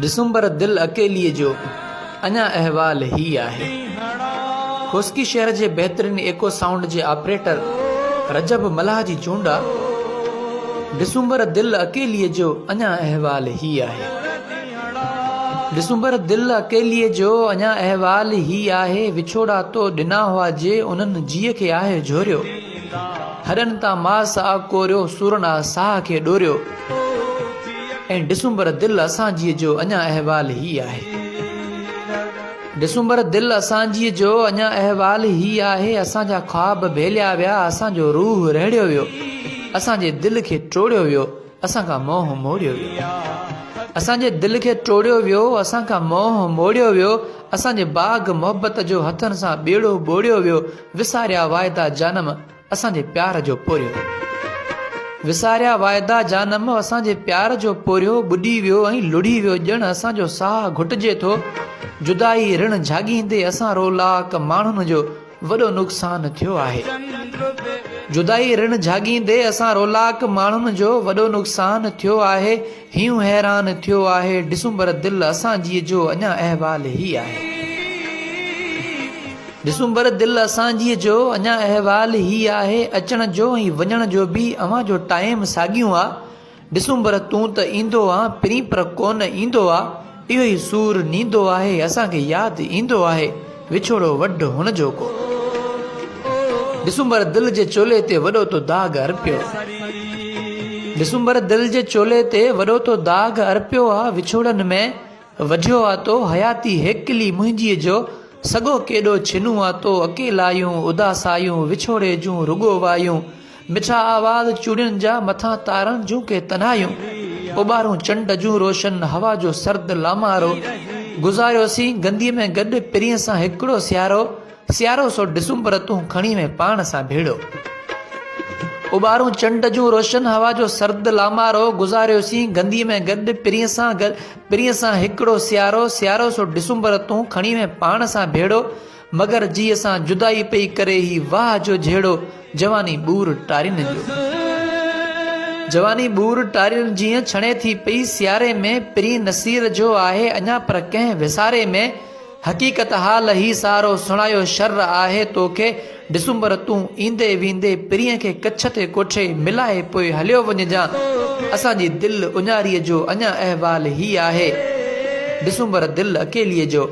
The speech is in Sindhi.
ڊسمبر دل اڪيليء جو اڃا احوال هي آهي. خوسڪي شهر جي بهترين ايڪو سائونڊ جي آپريٽر رجب ملاح جي چونڊ آ. ڊسمبر دل اڪيليء جو اڃا احوال هي آهي. ڊسمبر دل اڪيليء جو اڃا احوال هي آهي وڇوڙا تو ڏنا هئا جي انهن جيء کي آهه جهوريو هڏن تان ماس آ ڪوريو سورن آ ساهه کي ڏوريو. ۽ ڊسمبر دل اسانجيء جو اڃا احوال هي آهي. ڊسمبر دل اسانجيء جو اڃا احوال هي آهي اسانجا خواب ڀيليا ويا اسانجو روح رهڙيو ويو اسانجي دل کي ٽوڙيو ويو اسان کان موهه موڙيو ويو اسانجي دل کي ٽوڙيو ويو اسان کان موهه موڙيو ويو اسانجي باغ محبت جو هٿن سان ٻيڙو ٻوڙيو ويو وساريا واعدا جانم اسان جي پيار جو پورهيو وساريا واعدا جانم اسان جي پيار جو پورهيو ٻڏي ويو ۽ لڙهي ويو ڄڻ اسان جو ساهه گهٽجي ٿو جدائي رڻ جهاڳيندي اسان رولاڪ ماڻهن جو وڏو نقصان ٿيو آهي جدائي رڻ جهاڳيندي اسان رولاڪ ماڻهن جو وڏو نقصان ٿيو آهي هيون حيران ٿيو آهي ڊسمبر دل اسان جيء جو اڃا احوال هي آهي ڊسمبر دل اسان جيء جو اڃا احوال هي آهي اچڻ جو ۽ وڃڻ جو به اوهان جو ٽائيم ساڳيون آ ڊسمبر تون ته ايندو آن پرين پر ڪون ايندو آ اهو ئي سور نيندو آهي اسان کي ياد ايندو آهي وڇوڙو وڍ هڻ جو ڪو ڊسمبر دل جي چولي تي وڏو تو داغ ارپيو ڊسمبر دل جي چولي تي وڏو تو داغ ارپيو آ وڇوڙن ۾ وڍيو آ تو حياتي هيڪلي منهنجي جو سڳو ڪيڏو ڇنون آ تو اڪيلايون اداسايون وڇوڙي جون رڳو وايون مٺا آواز چوڙين جا، مٿان تارن جون ڪي تنهايون، اوٻارون چنڊ جون روشن، هوا جو سرد لامارو، گذاريوسين گنديء ۾ گڏ پرينء سان هڪڙو سيارو، سيارو سو ڊسمبر تون کڻي وئين پاڻ سان ڀيڙو. اوٻارون چنڊ جون روشن، هوا جو سرد لامارو، گذاريوسين گنديء ۾ گڏ پرينء سان، پرينء سان هڪڙو سيارو، سيارو سو ڊسمبر تون کڻي وئين پاڻ سان ڀيڙو، مگر جيء سان جدائي پئي ڪري هي واهه جو جهيڙو جواني ٻور ٽارين جو جواني ٻور ٽارين جيئن ڇڻي ٿي پئي سياري ۾ پرين نصير جو آهي اڃا پر ڪنهن وساري ۾ حقيقت حال هي سارو سڻايو شر آهي توکي ڊسمبر تون ايندي ويندي پرين کي ڪڇ تي ڪوٺي ملائي پوء هليو وڃجان اسان جي دل اڃاري جو اڃا احوال هي آهي ڊسمبر دل اڪيلي جو.